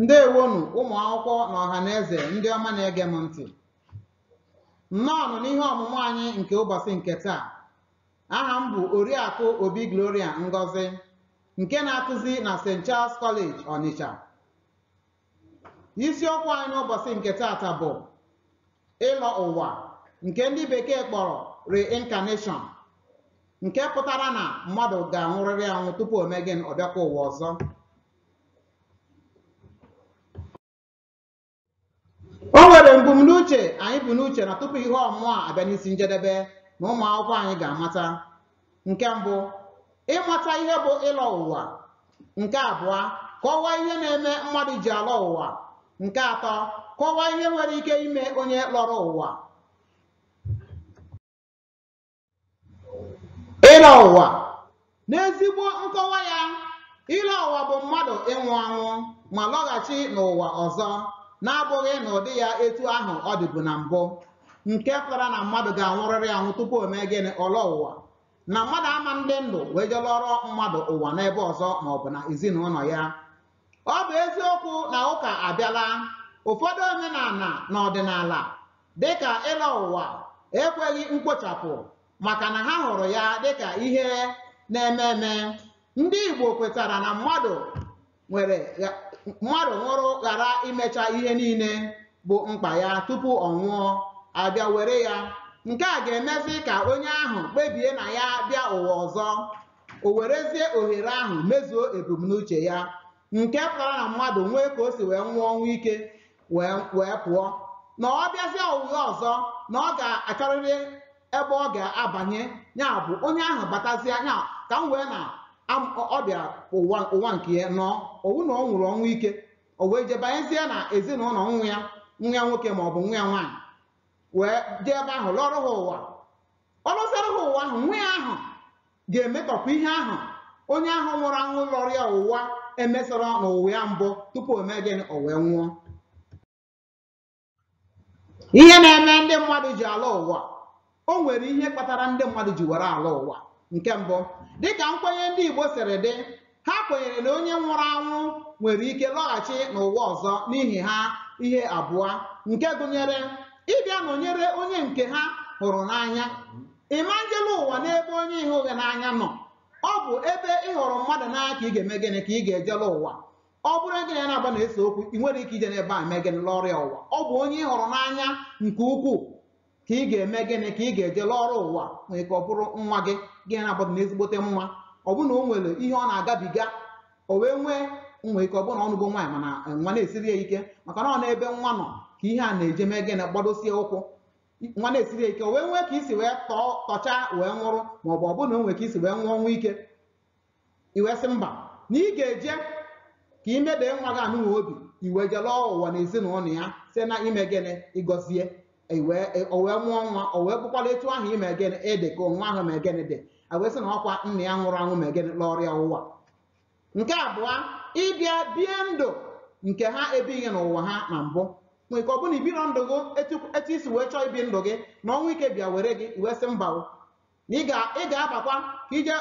ndewonu ụmụ akwụkwọ na ọha na eze ndị ọma na-ege m ntị nnọọnụ n'ihe ọmụmụ anyị nke ụbọchị nke taa aha m bụ oriakụ obi gloria ngozi nke na-akụzi na st charles college onitsha isiokwu anyị n'ụbọchị nke taata bụ ịlọ ụwa nke ndị bekee kpọrọ reincarnation nke pụtara na mmadụ ga-anwụrịrị anwụ tupu o mee gịnị ọ bịakwa ụwa ọzọ o nwere mbumnuche anyị bu n'uche na tupu ihe ọmụmụ a abịa n'isi njedebe na ụmụ akwụkwọ anyị ga-amata nke mbụ ịmata ihe bụ ịlọ ụwa nke abụọ kọwaa ihe na-eme mmadụ ji alọ ụwa nke atọ kọwaa ihe nwere ike ime onye lọrọ ụwa ịlọ ụwa n'ezigbo nkọwa ya ịlọ ụwa bụ mmadụ ịnwụ anwụ ma lọghachi n'ụwa ọzọ na-abụghị n'ụdị ya etu ahụ ọ dịbu na mbụ nke pụtara na mmadụ ga-anwụrịrị anwụ tupu o mee gịnị ọ lọ ụwa na mmadụ ama ndị ndụ wee je lọọrọ mmadụ ụwa n'ebe ọzọ ma ọ bụ na ezinụlọ ya ọ bụ eziokwu na ụka abịala ụfọdụ omenala na ọdịnala dịka ịlọ ụwa ekweghị mkpochapụ maka na ha hụrụ ya dịka ihe na-eme eme ndị Igbo kwetara na mmadụ nwere mmadụ nwụrụ ghara imecha ihe niile bụ mkpa ya tupu ọnwụ abịa were ya nke a ga-emezi ka onye ahụ kpebie na ya bịa ụwa ọzọ o werezie ohere ahụ mezuo ebumnuche ya nke pụtara na mmadụ nwee ka o si wee nwụọ ọnwụ ike wee wee pụọ na ọ bịazie ụwa ọzọ na ọ ga-achọrịrị ebe ọ ga-abanye ya bụ onye ahụ batazie ya ka m wee na am- ọ ọ bịara ụwa ụwa nke ya na ọ nwụ na ọ nwụrụ ọnwụ ike o wee jee banyezie na ezinụlọ nwa ya nwa ya nwoke ma ọ bụ nwa ya nwaanyị wee jee ebe ahụ lọọrọ ha ụwa ọ lọsịrị ha ụwa ahụ nwa ya ahụ ga-emetọpụ ihe ahụ onye ahụ nwụrụ anwụ lọrọ ya ụwa emesịrọ n'ụwa ya mbụ tupu o mee gịnị o wee nwụọ ihe na-eme ndị mmadụ ji alọ ụwa o nwere ihe kpatara ndị mmadụ ji were alọ ụwa nke mbụ dịka nkwenye ndị Igbo siri dị ha kwenyere na onye nwụrụ anwụ nwere ike lọghachi n'ụwa ọzọ n'ihi ha ihe abụọ nke gụnyere ịbịa nọnyere onye nke ha hụrụ n'anya ị ma njelọ ụwa n'ebe onye ị hụghị n'anya nọ ọ bụ ebe ị hụrụ mmadụ n'anya ka ị ga-eme gịnị ka ị ga-ejelọ ụwa ọ bụrụ gị na ya na-agba na-ese okwu ị nwere ike ije n'ebe a mee gịnị lọrọ ya ụwa ọ bụ onye ị hụrụ n'anya nke ukwuu ka ị ga-eme gịnị ka ị ga-eje lọọrọ ụwa nwere ike ọ bụrụ nwa gị gị na ya abụọ dị na ezigbote mma ọ bụ na o nwere ihe ọ na-agabiga o wee nwee nwee ike ọ bụrụ na ọ nụgo nwaanyị mana nwa na-esiri ya ike maka na ọ na ebe nwa nọ ka ihe a na-eje mee gịnị gbadosie ụkwụ nwa na-esiri ya ike o wee nwee ka i si wee tọọ tọchaa wee nwụrụ maọbụ ọ bụrụ na o nwere ka i si wee nwụọ ọnwụ ike i wee sị mba na ị ga-eje ka ị mede nwa gị anụnwa obi i wee je lọọ ụwa na ezinụlọ ya site na ime gịnị ịgọzie i wee e- o wee mụọ nwa o wee bụkwala etu ahụ i mee gịnị ị dị ka nwa ahụ mee gịnị dị a wee sị na ọkwa nna ya nwụrụ anwụ mee gịnị lọọrọ ya ụwa nke abụọ ịbịa bie ndụ nke ha ebighị n'ụwa ha na mbụ nwere ike ọ bụrụ na i biro ndụ gị etu etu i si wee chọọ ibi ndụ gị na ọnwụ ike bịa were gị i wee sị mba o na ị ga- ị ga-abịakwa ka i je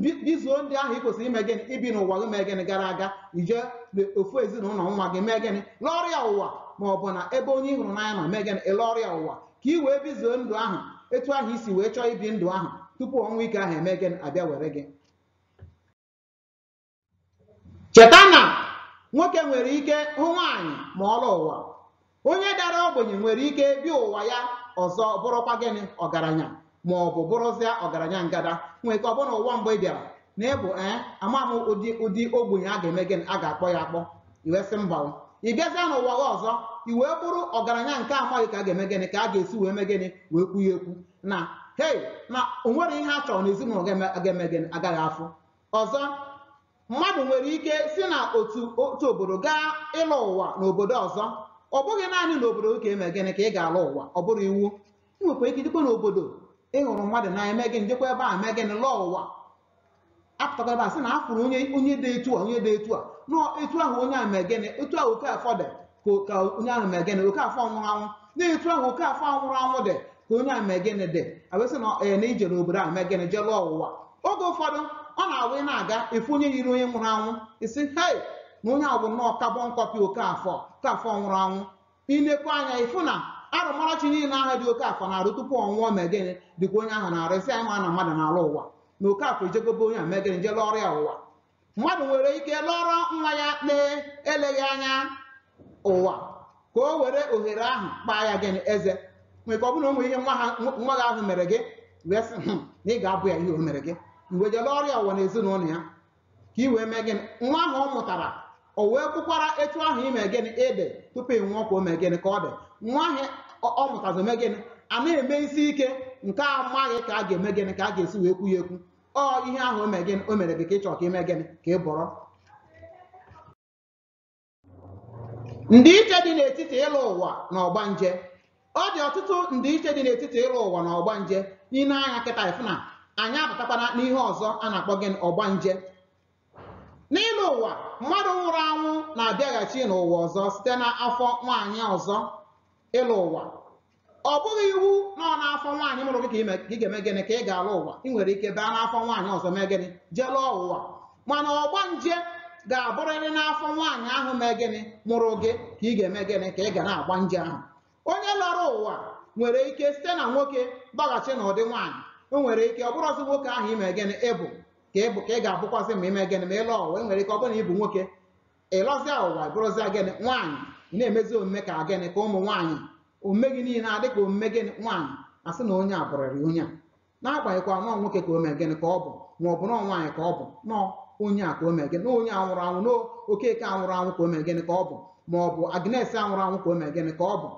bi- bizuo ndụ ahụ ị kwesịrị ime gịnị ibi n'ụwa gị mee gịnị gara aga i je le- ofu ezinụlọ nwa gị mee gịnị lọọrọ ya ụwa ma ọ bụ na ebe onye ị hụrụ n'anya nọ mee gịnị ị lọọrọ ya ụwa ka ị wee bizuo ndụ ahụ etu ahụ i si wee chọọ ibi ndụ ahụ tupu ọnwụ ike ahụ eme gịnị abịa were gị cheta na nwoke nwere ike ghọ nwaanyị ma ọ lọọ ụwa onye dara ogbenye nwere ike bịa ụwa ya ọzọ bụrụkwa gịnị ọgaranya ma ọ bụ bụrụzịa ọgaranya ngada nwee ike ọ bụrụ na ụwa mbụ ị bịara na ị bụ ee a maghị ụdị ụdị ogbenye a ga-eme gịnị a ga-akpọ ya akpọ i wee sị mba ị bịazịa n'ụwa gị ọzọ i wee bụrụ ọgaranya nke a maghị ka a ga-eme gịnị ka a ga-esi wee mee gịnị wee kwu ya ekwu na hei na o nwere ihe a chọrọ n'ezinụlọ ga-eme gịnị agaghị afụ Ọzọ, mmadụ nwere ike si na otu otu obodo gaa ịlọ ụwa n'obodo ọzọ. Ọ bụghị naanị n'obodo gị ka e mere gịnị ka ị ga-alọ ụwa, ọ bụrụ iwu. I nwekwara ike jekwa n'obodo ị hụrụ mmadụ n'anya mee gịnị jekwa ebe a mee gịnị lọọ ụwa. A pụtakwa ebe a sị na a fụrụ onye onye dị etu a onye dị etu a na etu ahụ onye a mee gịnị etu ahụ Okafọ dị ka ka onye ahụ mee gịnị Okafọ nwụrụ anwụ na etu ahụ Okafọ ahụ nwụrụ anwụ dị ka onye ahụ mee gịnị dị a wee sị na ee na i je n'obodo ahụ mee gịnị jee lọọ ụwa oge ụfọdụ ọ na-awụ ị na-aga ị fụ onye yiri onye nwụrụ anwụ ị sị hei na onye ahụ bụ nnọọ carbon copy Okafọ Okafọ nwụrụ anwụ i lekwa anya ị fụ na arụmarachi niile ahụ dị Okafọ na-arụ tupu ọ nwụọ mee gịnị dị ka onye ahụ na-arụ ị sị anyị ma na mmadụ na-alọ ụwa na Okafọ ejego be onye ahụ mee gịnị jee lọọrọ ya ụwa mmadụ nwere ike lọọrọ nwa ya na-eleghị anya ụwa ka o were ohere ahụ kpaa ya gịnị eze nwere ike ọ bụrụ na o nwere ihe nwa ha nwa gị ahụ mere gị wee sị "Hmm, na ị ga-abọ ya ihe o mere gị i wee je lọọrọ ya ụwa na ezinụlọ ya ka ị wee mee gịnị nwa ahụ ọ mụtara o wee bụkwara etu ahụ i mee gịnị ị dị tupu ị nwụọ ka o mee gịnị ka ọ dị nwa ahụ ọ- ọ mụtazi mee gịnị a na-eme isi ike nke a maghị ka a ga-eme gịnị ka a ga-esi wee kwu ya ekwu ọ ihe ahụ o mere gịnị o mere gị ka ị chọrọ ka i mee gịnị ka ị bụrụ ndịiche dị n'etiti ịlụ ụwa na ọgbanje ọ dị ọtụtụ ndịiche dị n'etiti ịlụ ụwa na ọgbanje i nee anya kịta ị fụ na anyị abatakwana n'ihe ọzọ a na-akpọ gịnị ọgbanje n'ịlụ ụwa mmadụ nwụrụ anwụ na-abịaghachi n'ụwa ọzọ site n'afọ nwaanyị ọzọ ịlụ ụwa ọ bụghị iwu na ọ n'afọ nwaanyị mụrụ gị ka ime- ka ị ga-eme gịnị ka ị ga-alụ ụwa ị nwere ike baa n'afọ nwaanyị ọzọ mee gịnị jee lụọ ụwa mana ọgbanje ga-abụrịrị n'afọ nwaanyị ahụ mee gịnị mụrụ gị ka ị ga-eme gịnị ka ị ga na-agba nje ahụ onye lọrọ ụwa nwere ike site na nwoke bịaghachi n'ụdị nwaanyị o nwere ike ọ bụrụzi nwoke ahụ i me gịnị ị bụ ka ị bụ ka ị ga-abụkwazị ma i mee gịnị ma ị lụọ ụwa o nwere ike ọ bụrụ na ị bụ nwoke ị lọzịa ụwa bụrụzịa gịnị nwaanyị ị na-emezi omume ka gịnị ka ụmụ nwaanyị omume gị niile adị ka omume gịnị nwaanyị a sị na onye a bụrịrị onye a n'agbanyeghịkwa na ọ nwoke ka o mee gịnị ka ọ bụ ma ọ bụ na ọ nwaanyị ka ọ bụ na ọ onye a ka o mee gịnị na ọ onye a nwụrụ anwụ na ọ okeke a nwụrụ anwụ ka o mee gịnị ka ọ bụ ma ọ bụ agnes a nwụrụ anwụ ka o mee gịnị ka ọ bụ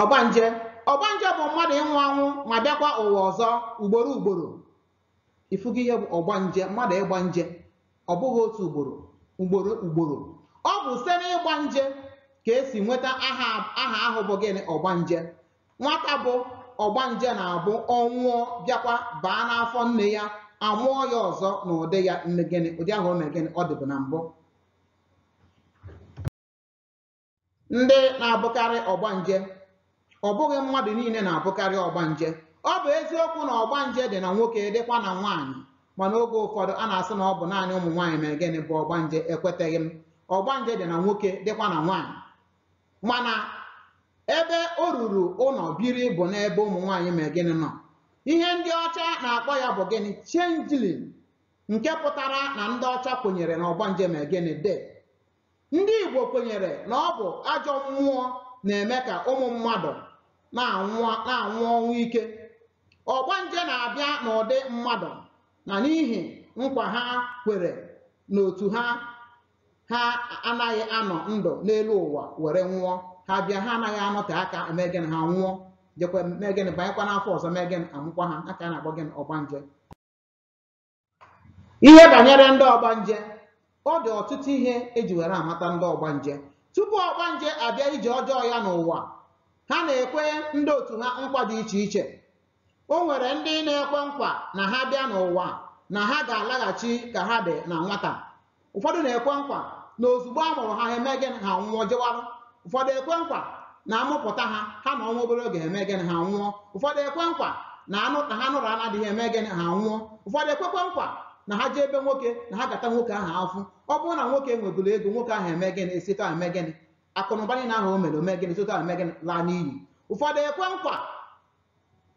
ọgbanje ọgbanje bụ mmadụ ịnwụ anwụ ma bịakwa ụwa ọzọ ugboro ugboro i fugo ihe bụ ọgbanje mmadụ ịgba nje ọ bụghị otu ugboro ugboro ugboro ọ bụ site n'ịgba nje ka e si nweta aha aha ahụ bụ gịnị ọgbanje nwata bụ ọgbanje na-abụ ọ nwụọ bịakwa baa n'afọ nne ya a mụọ ya ọzọ n'ụdị ya mee gịnị ụdị ahụ o mere gịnị ọ dịbụ na mbụ ndị na-abụkarị ọgbanje ọ bụghị mmadụ niile na-abụkarị ọgbanje ọ bụ eziokwu na ọgbanje dị na nwoke dịkwa na nwaanyị mana oge ụfọdụ a na-asị na ọ bụ naanị ụmụ nwaanyị mere gịnị bụ ọgbanje ekwetaghị m ọgbanje dị na nwoke dịkwa na nwaanyị mana ebe o ruru ụlọ biri bụ n'ebe ụmụ nwaanyị mere gịnị nọ ihe ndị ọcha na-akpọ ya bụ gịnị changeling nke pụtara na ndị ọcha kwenyere na ọgbanje mere gịnị dị Ndị Igbo kwenyere na ọ bụ ajọ mmụọ na-eme ka ụmụ mmadụ na-anwụ na-anwụ ọnwụ ike. Ọgbanje na-abịa n'ụdị mmadụ na n'ihi nkwa ha kwere n'otu ha ha anaghị anọ ndụ n'elu ụwa were nwụọ. Ha bịa ha anaghị anọte aka eme gịnị ha nwụọ jekwa mee gịnị banyekwa n'afọ ọzọ mee gịnị a mụkwa ha a ka a na-akpọ gịnị ọgbanje. ihe banyere ndị ọgbanje ọ dị ọtụtụ ihe e ji were amata ndị ọgbanje tupu ọgbanje abịa ije ọjọọ ya n'ụwa ha na-ekwe ndị otu ha nkwa dị iche iche o nwere ndị na-ekwe nkwa na ha bịa n'ụwa na ha ga-alaghachi ka ha dị na nwata ụfọdụ na-ekwe nkwa na ozugbo a mụrụ ha ha eme gịnị ha anwụọ jewara ụfọdụ ekwe nkwa na a mụpụta ha ha anọọ nwa obere oge ha eme gịnị ha anwụọ ụfọdụ ekwe nkwa na anụ na ha nụrụ na di ha eme gịnị ha anwụọ ụfọdụ ekwekwe nkwa na ha jee be nwoke na ha ga-ata nwoke ahụ afụfụ ọ bụrụ na nwoke nweburu ego nwoke ahụ eme gịnị esi otu ahụ eme gịnị akụnụba niile ahụ o nwere eme gịnị si otu ahụ eme gịnị laa n'iyi ụfọdụ ekwe nkwa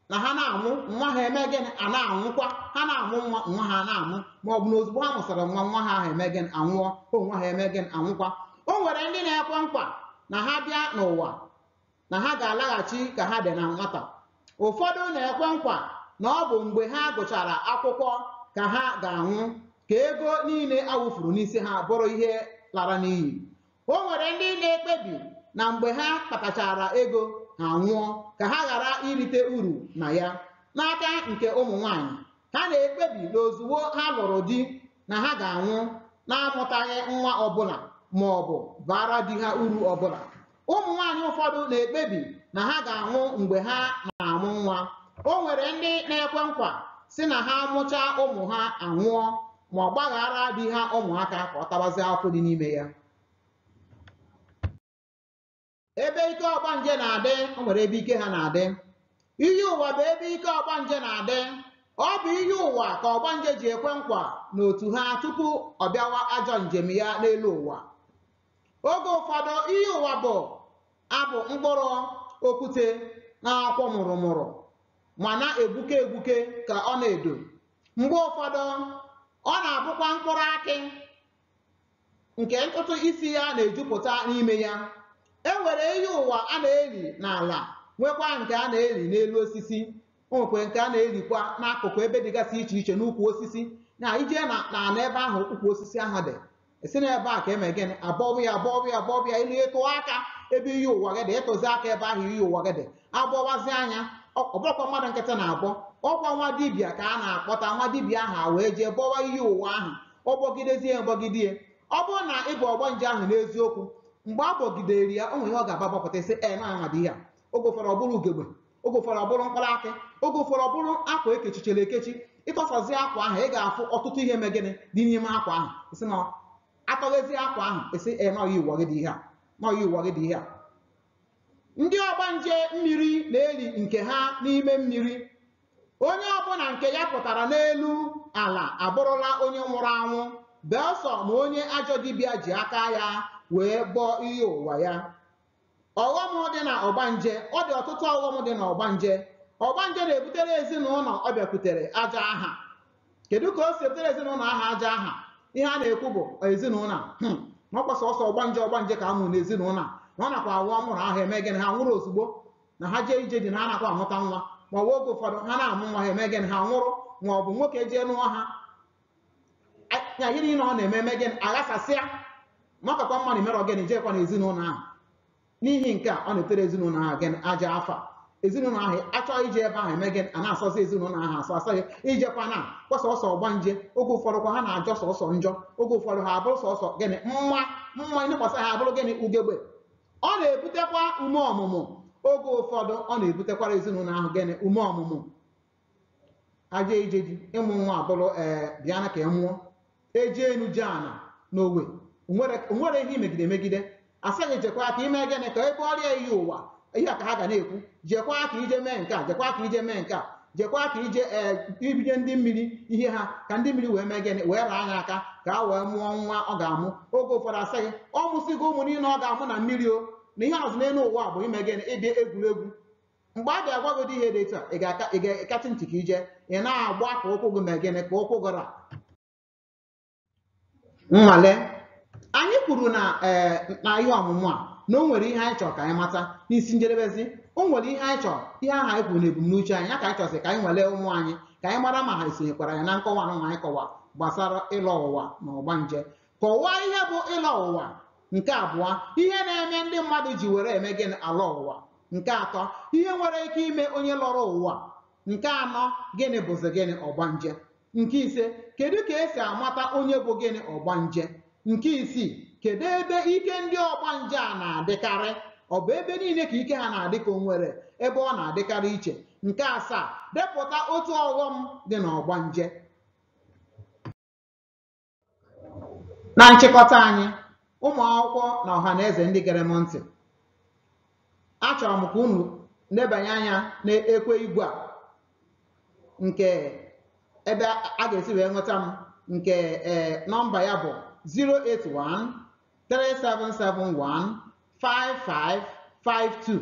na ha na-amụ nwa ha eme gịnị a na-anwụkwa ha na-amụ nwa nwa ha na-amụ ma ọ bụ na ozugbo ha mụsara nwa nwa ha ahụ eme gịnị anwụọ onwe ha eme gịnị anwụkwa o nwere ndị na-ekwe nkwa na ha bịa n'ụwa na ha ga-alaghachi ka ha dị na nwata ụfọdụ na-ekwe nkwa na ọ bụ mgbe ha gụchara akwụkwọ ka ha ga-anwụ ka ego niile a wụfuru n'isi ha bụrụ ihe lara n'iyi O nwere ndị na-ekpebi na mgbe ha kpatachara ego ha anwụọ ka ha ghara irite uru na ya. N'aka nke ụmụ nwanyị, ha na-ekpebi na ozugbo ha lụrụ di na ha ga-anwụ na-amụtaghị nwa ọbụla ma ọ bụ baara di ha uru ọbụla. Ụmụ nwanyị ụfọdụ na-ekpebi na ha ga-anwụ mgbe ha na-amụ nwa. O nwere ndị na-ekwe nkwa sị na ha mụchaa ụmụ ha anwụọ. ma ọ gbaghaara di ha ụmụaka ka ọ tabazie afụfụ dị n'ime ya ebe ike ọgbanje na-adị o nwere ebe ike ha na-adị iyi ụwa bụ ebe ike ọgbanje na-adị ọ bụ iyi ụwa ka ọgbanje ji ekwe nkwa n'otu ha tupu ọ bịawa ajọ njem ya n'elu ụwa oge ụfọdụ iyi ụwa bụ abụ mkpụrụ okwute na-akwọ mụrụmụrụ ma na-egbuke egbuke ka ọna edo mgbe ụfọdụ ọ na-abụkwa mkpụrụ akị nke ntutu isi ya na-ejupụta n'ime ya e nwere iyi ụwa a na-eli n'ala nwekwa nke a na-eli n'elu osisi o nwekwe nke a na-elikwa n'akụkụ ebe dịgasị iche iche n'ukwu osisi na i jee na n'ala ebe ahụ ukwu osisi ahụ dị a sị na ebe a ka eme gịnị a bọba ya a bọba ya a bọba ya ilu ị tụọ aka ebe iyi ụwa gị dị ị tụzie aka ebe ahụ iyi ụwa gị dị a bọwazie ya ọ bụrọkwa mmadụ nkịtị na-abọ ọ kwa nwa dibịa ka a na-akpọta nwa dibịa ahụ a wee jee bọwa iyi ụwa ahụ ọ bọgidezie bọgide ọ bụrụ na ị bụ ọgbanje ahụ n'eziokwu mgbe a bọgidere ya o nwere ihe ọ ga-abọpụta sị na ọ nwa dị ihe a oge ụfọdụ ọ bụrụ ugegbe oge ụfọdụ ọ bụrụ mkpụrụ akị oge ụfọdụ ọ bụrụ akwa e kechichara ekechi ị tọsazie akwa ahụ ị ga-afụ ọtụtụ ihe mee gịnị dị n'ime akwa ahụ a sị na a tọghezie akwa ahụ a sị na ọ iyi ụwa gị dị ihe a na ọ iyi ụwa gị dị ihe a ndị ọgbanje mmiri na-eli nke ha n'ime mmiri onye ọbụla nke ya pụtara n'elu ala abụrụla onye nwụrụ anwụ belụsọ ma onye ajọ dibịa ji aka ya wee bọọ iyi ụwa ya ọghọm dị na ọgbanje ọ dị ọtụtụ ọghọm dị na ọgbanje ọgbanje na-ebutere ezinụlọ ọ bịakwutere ajọ aha kedu ka o si ebutere ezinụlọ ahụ ajọ aha ihe a na-ekwu bụ ezinụlọ hmm, na ọ kwa sọsọ ọgbanje ọgbanje ka a mụrụ n'ezinụlọ na ọ nakwa awụ a mụrụ ha eme gịnị ha nwụrụ ozugbo na ha jee ije di na ha nakwa amụta nwa ma ọ bụ oge ụfọdụ ha na-amụ nwa ha eme gịnị ha nwụrụ ma ọ bụ nwoke jee nụọ ha ya ihe niile ọ na-eme eme gịnị aghasasịa na ọ kakwa mma na imerọ gịnị jekwa na ezinụlọ ahụ n'ihi nke a ọ na-etere ezinụlọ ahụ gịnị ajọ afa ezinụlọ ahụ achọghị ije ebe ahụ eme gịnị a na-asọzi ezinụlọ ahụ asọ a sị gị ejekwa na ọ kwa sọsọ ọgbanje oge ụfọdụ kwa ha na-ajọ sọsọ njọ oge ụfọdụ ha abụrụ sọsọ gịnị mma mma i nekwasị ha abụrụ gịnị ugegbe ọ na-ebutekwa ume ọmụmụ oge ụfọdụ ọ na-ebutekwara ezinụlọ ahụ gịnị ume ọmụmụ ha jee ije di ịmụ nwa abụrụ ee bịa na ka ị mụọ eje enu eje ana na o nwe o nwere ihe i megide megide a sị gị jekwa ka i mee gịnị ka a bọọra gị iyi ụwa ihe a ka ha ga na-ekwu jekwa ka i je mee nke a jekwa ka i je mee nke a jekwa ka i je ee bunye ndị mmiri ihe ha ka ndị mmiri wee mee gịnị wee raa ya aka ka o wee mụọ nwa ọ ga-amụ oge ụfọdụ a sị gị ọ mụsịgo ụmụ niile ọ ga-amụ na mmiri o na ihe azụ n'elu ụwa bụ ime gịnị ịbịa egwuregwu mgbe a ga-agwa gị ụdị ihe dị etu a ị ga-aka ị ga-akachi ntị ka ije ị na-agba ka ụkwụ gị mee gịnị ka ụkwụ gị ra nnwale anyị kwuru na ee na ihe ọmụmụ a na o nwere ihe anyị chọrọ ka anyị mata n'isi njedebezi o nwere ihe anyị chọrọ ihe ahụ anyị kwuru na ebumnuche anyị ya ka anyị chọsị ka anyị nwalee ụmụ anyị ka anyị mara ma ha esonyekwara anyị na nkọwa anụnwa anyị kọwa gbasara ịlọ ụwa na ọgbanje kọwaa ihe bụ ịlọ ụwa nke abụọ ihe na-eme ndị mmadụ ji were eme gịnị alọ ụwa nke atọ ihe nwere ike ime onye lọrọ ụwa nke anọ gịnị bụzi gịnị ọgbanje nke ise kedu ka e si amata onye bụ gịnị ọgbanje nke isii kedu ebe ike ndị ọgbanje a na-adịkarị ọ bụ ebe niile ka ike ha na-adị ka o nwere ebe ọ na-adịkarị iche nke asaa depụta otu ọghọm dị na ọgbanje na nchịkọta anyị ụmụ akwụkwọ na ọha na eze ndị gere m ntị achọrọ m ka unu nebanye anya na ekwe igwe a nke ebe a ga-esi wee nweta m nke ee nọmba ya bụ 081 3771 5552